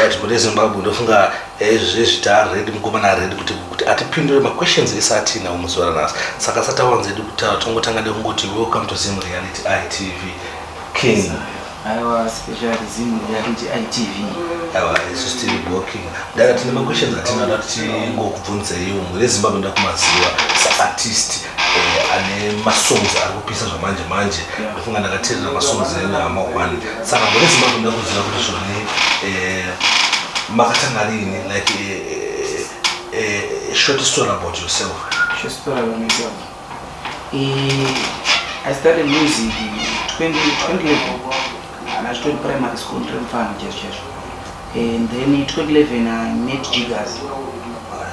Right, kune Zimbabwe ndofunga eh, zvezvi taaredi mukomana aredi kuti kuti atipindure maquestions ese atiinawo muzuva ranhasi saka asati awanza edu kutaura tongotanga nekungoti welcome to zim reality itv king aiwa special zim reality itv aiwa isu stiri boking ndaka tine maquestions atinoda kuti tingokubvunzeiwo mune zimbabwe ndakumaziva saartist eh, ane masongs ari kupisa zvamanje manje Funga ndakateerera masongs enyu hama one saka gore zimbabwe nda kuziva kuti zvone eh, makatanga rini like eh, eh, eh, eh, short story about yourself Short story about myself. Eh, I started music in 20, 2011. And I started primary school, Trim Farm, just, just. And then in 2011, I met Jiggers.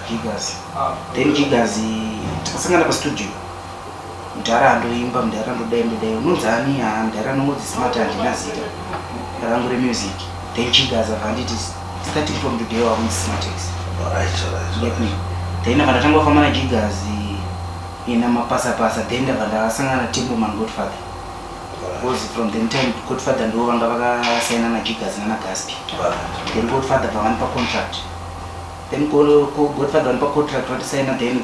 Jiggers. Then Jiggers, eh, takasangana pa studio. Mdhara andoimba, mdhara ndodai ndodai. Unonzi ani? Haa mdhara anongonzi Smart handina zita rangu remusic. Then Chigaza abva anditi starting from today wakunzi Smartex. Alright, alright, Get alright. me? Then ndabva ndatanga kufamba naJigazi ina mapasa pasa then ndabva ndasangana naTimberman Godfather. Alright, Because from the time Godfather ndivo vanga vakasaina naJigazi nana Gaspi. alright. then godfather bva vanipa contract then go- go- godfather vanipa contract vatisaina then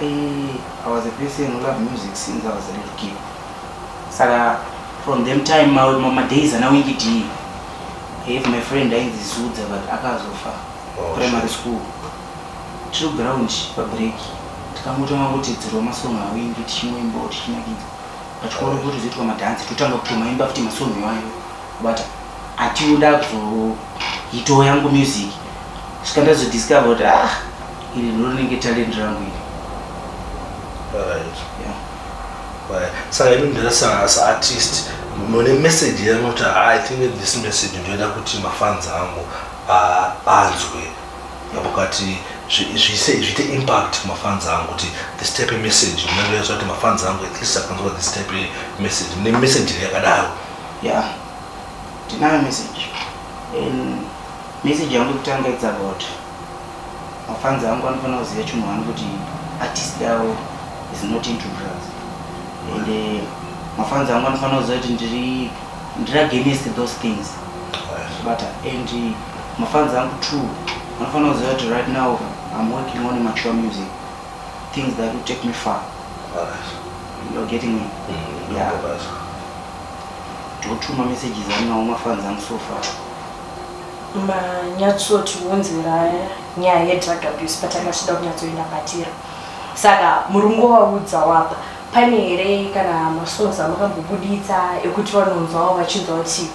Eh, I was a person who loved music since I was a little kid. Saka from them time ma, ma, ma days ana wingi D. I have my friend ainzi Zudza but akazofa Oh, primary school. True ground pa break. Tikangotanga kuti dzirwa masong awingi tichinoimba tichinakidza. Pachikoro kuti zvoitwa madance totanga kutomaimba futi masong iwayo. But atiuda kuzoitoa yangu music. Saka ndazodiscover kuti ah Iri ndorinenge talent rangu iri. Alright. Yeah. Right. Saka imi ndirasana as artist mune message yanoti ah, I think this message ndoida kuti mafans angu ah, anzwe yamukati zviite impact kumafans angu kuti this type of message ndinoyasa kuti mafans angu at least akanzwa this type of message ne message yakadaro yeah tinayo message and message yangu kutanga it's about Mafans angu anofanira kuziva chinhu wani kuti artist yavo is not into drugs and eh, mafans angu anofanira kuziva kuti ndiri ndiri against those things bata and eh, mafans angu two anofanira kuziva kuti right now i'm working on mature music things that will take me far you're getting me mm, yeah totuma messages aninawo mafans angu so far manyatsotiunzirae nyaya yedrug abuse patanga tichida kunyatsoenda patira saka muri ngovaudza wapa pane here kana masongs amakambobuditsa ekuti vanonzwawo vachinzwa kuti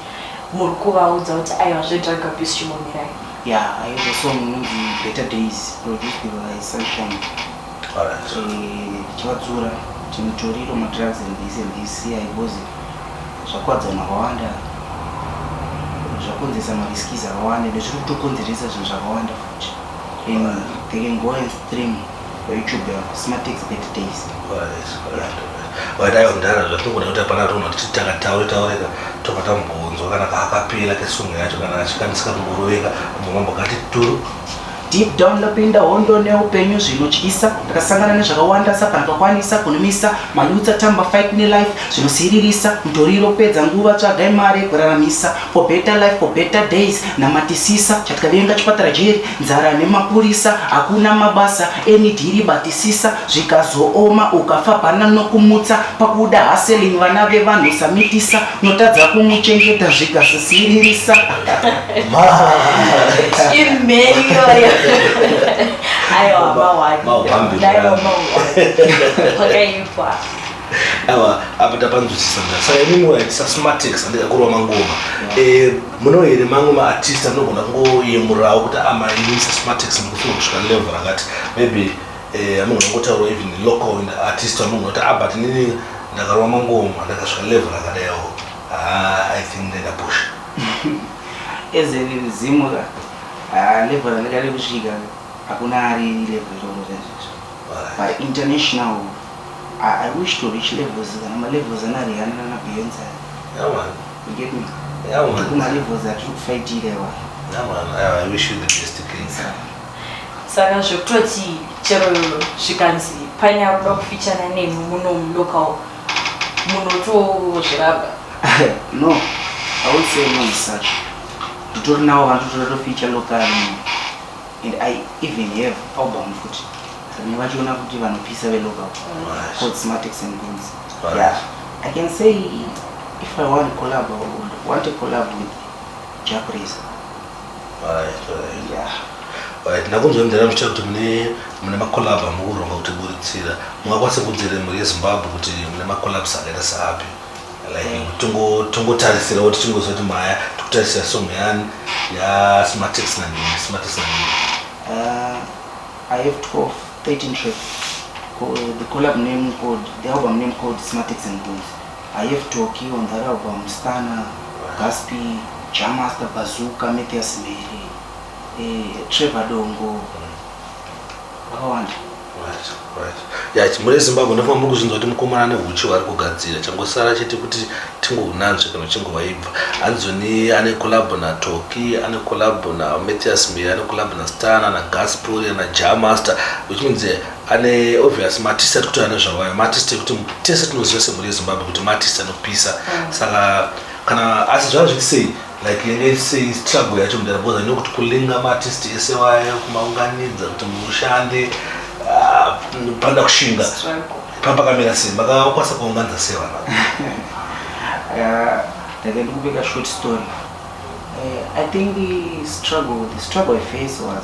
muri kuvaudza kuti aiwa zvedrug abuse chimbomirai ya aiwa song inonzi better days produced by sunshine tichivatsura timutoriro madrugs and this and this siya because zvakuwadza vanhu vakawanda zvakonzeresa mariskis akawanda ende zviri kutokonzeresa zvinhu zvakawanda futi and they can go and stream youtube yavo smartex bad days vadai kudhara zvatogona kuti hapana tonhu kuti takataure taureka toka tambonzwa kana kaakapera kesongo yacho kana achikanisika kumboroveka mumambo kati turu Deep down ndapinda hondo neupenyu zvinotyisa ndakasangana nezvakawanda sapana pakwanisa kunumisa malutsa tamba fight nelife zvinosiririsa mutoriro pedza nguva tsvaga imari yekuraramisa for better life for better days namatisisa chatikavenga chipatara jeri nzara nemapurisa hakuna mabasa enidhiri batisisa zvikazooma ukafa pana nokumutsa pakuda haseling vana vevanhu samitisa notadza kumuchengeta zvikazosiririsa imheniyoyo aiwa mawakaipa awa apa tapanzwisisa mna saka imi muwaitisa smartex andida kurova mangoma eh, muno here mamwe maartist anogona kungoyemurawo kuti amainisa smartex mukufuna kusvika level rakati maybe eh, anogona ngotaurwa even local in artist anogona kuti abut ah, nini ndakarova mangoma ndakasvika level rakadayawo ah, i think ndendapusha Ezeri rizimu ra ah, level randinga rekusvika hakuna ari level iroro rezvezvo but international ah, I wish to reach levels kana malevels ana Rihanna nana Beyonce Yeah man. you get me Yeah man. kuma levels atiri kufaitira iwa Yeah man. I, I wish you the best king. saka zvekutoti chero zvikanzi paine akuda kufichana nemi muno mulocal munotozviramba no i would say no such nditori nawo vanhu tototoficha local and i even have album futi rine vachiona kuti vanopisa velocal called smartex and guns yeah i can say if i want collab i would want a collab with jack racer ndakunzonzera muchita kuti mune mune macolab amukuronga kuti buritsira mungakwanisa kunzere mhuri yezimbabwe kuti mune macolabs akaita saapi like mm. tongotarisira kuti tingoziva kuti maya tikutarisira song yani yasmartex nanini smartex nanini uh, i have 12 13 track the collab name code the album name code smartex and booth Ayef Tocky Wambaragwa Mustana Gaspi Jah Master Bazooka Mathias Mhere eh, Trevor Dongo vakawanda ya chimure zimbabwe ndofamba muri kuzvinzwa kuti mukomana ane huchi hwaari kugadzira changosara chete kuti tingounanzve kana uchingovaibva anzoni ane kolabo natoki ane kolabo namathias miri ane kolabo nastan nagasporia najamaster which means eh, ane obvious matist atikuti ane zvawaya matist ekuti tese tinoziva semhuri yezimbabwe kuti matist anopisa mm. saka kana asi zvava zviti sei like yenge sei struggle yacho mudara because ane kuti kulinga matist ese waya kumaunganidza kuti mushande ah, panda kushinga papakamira sei makakwanisa kuunganidza sei vana ndake ndikubeka short story uh, i think struggle the struggle i face was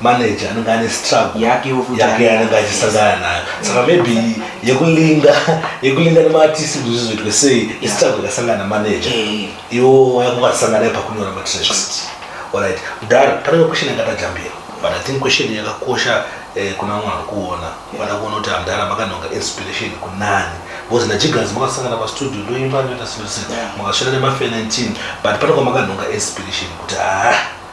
manager anenge ane struggle yake yanenge achisangana nayo saka maybe yekulinga yekulinga nemaartist kuti zvizoitwe sei istruggle yakasangana namanager eh. iwo wayakuwasangana nayo pakunyora matracks orit mudhara panenge question yakatajambira but i think question yakakosha eh, kuna vamwe vari kuona vada kuona kuti amdhara makanonga inspiration kunani because najigazi makasangana pastudio ndoimba ndoita sese makasvira nema 19 but pane kwamakanonga inspiration kuti haa ah,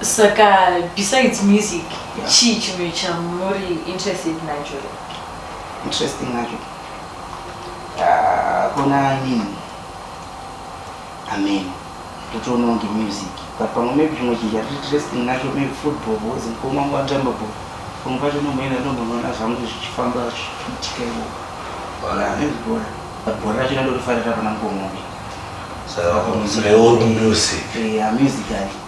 Saka besides music yeah. chii chimwe chamuri interested nacho interesting nacho ah, kuna nini ameno totoonawo ngemusic but pamwe maybe chimwe chinhu chati interesting nacho maybe football bcause mukoma wangu anotamba ball pamwe pacho nomboenda ndombonoona zvangu zvichifamba zvichiitika ivo bhora but bhora racho nandorifarira pana mukoma wangu saka pamusic eh, music ali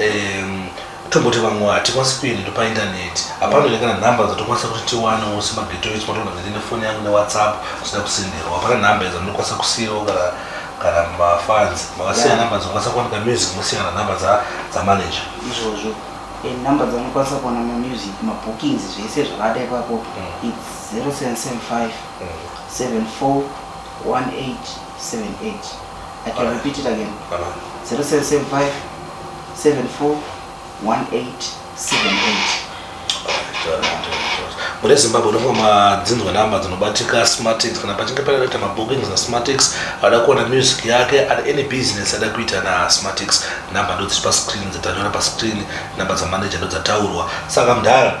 um, tomboti vamwe hatikwanisi kuendendo paintaneti hapana ine kana nhamba dzatokwanisa kuti tiwanewo semageto echi matoona kuti ndine foni yangu newhatsapp zvisina kusenderwa hapana nhamba idzo ndinokwanisa kusiyawo kana kana mafans makasiya nhamba dzinokwanisa kuwanika music mosiyana nhamba dzamanager izvozvo eh, nhamba dzanokwanisa kuwana mamusic mabookings zvese zvakada ipapo mm. its 0775 74 1878 I can repeat it again 0775 74 1878 mune zimbabwe unofa madzinzwa namba dzinobatika smartix kana pachinge pakaita mabookings nasmartix ada kuona music yake at any business ada kuita nasmartix namba ndodziri pascreen dzatanyora pascreen namba dzamanager ndodzataurwa saka mdhara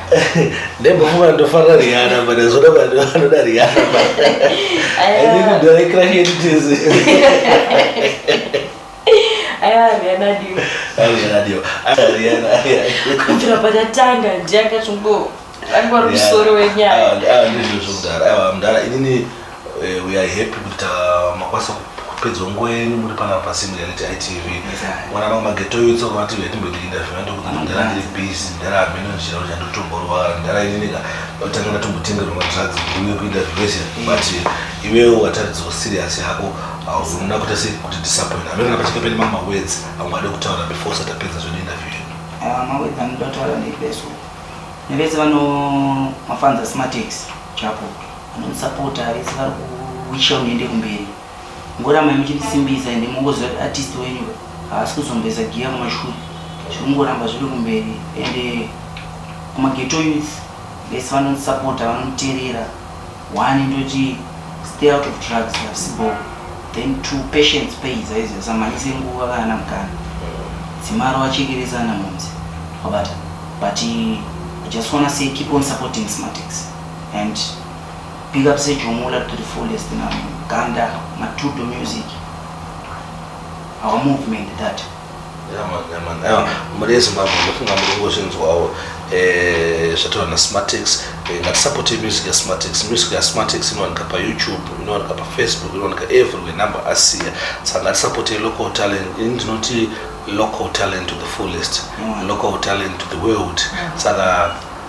ndaimbofuma ndofarira riana but zvoda vanhu vanoda riana aidikudharekrashetizi kubvira patatanga ndiakachongo angwari musoro wenyaya ah, ah, ah, ndizvozvo mudhara aiwa mudhara inini Eh, we are happy kuti ta- makwanisa ku- kupedza nguva yenyu muri panapa pasimbi yaneti itv mwana vangu mageto yo tsoka vati vetimbotikinda zvina ndokuti ndara ndiri busy ndara hameno ndichira kuti andotomborwara ndara inineka ndotanga ndatombotengerwa madrugs kuuye kuita zvese but iwewe wataridzwa serious hako hauzomuna kuita sei kuti disappoint hameno kana pachake pane mamwe mawords amwe ade kutaura before usati apedza zvedu interview yedu Ah, mawedzi anoda kutaura neveso nevese vano mafanza smatics chapo Mutsapota vese vari kuwisha muende kumberi. Ngoramai muchindisimbisa ende mongoziva kuti artist wenyu haasi kuzombeza giya kumashure. Zviri kungoramba zviri kumberi ende kumageto youth vese vanondisapota vanonditerera one ndoti stay out of drugs havisi bhoo then two patience pays aizi asamhanyise nguva kana namukana dzimaro vachekeresa ana mhunzi wabata but i just wanna say keep on supporting smartex and big up sejomula to the fullest now ganda matudo music our movement that mari yezimbabwe ndofunga muri kungozvinzwawo eh, zvataura nasmartex eh, ngatisapote music yasmartex music yasmartex inowanika payoutube inowanika pafaceebook inowanika everywhere number asiya saka ngatisapote local talent ini ndinoti local talent to the fullest mm. local talent to the world mm. saka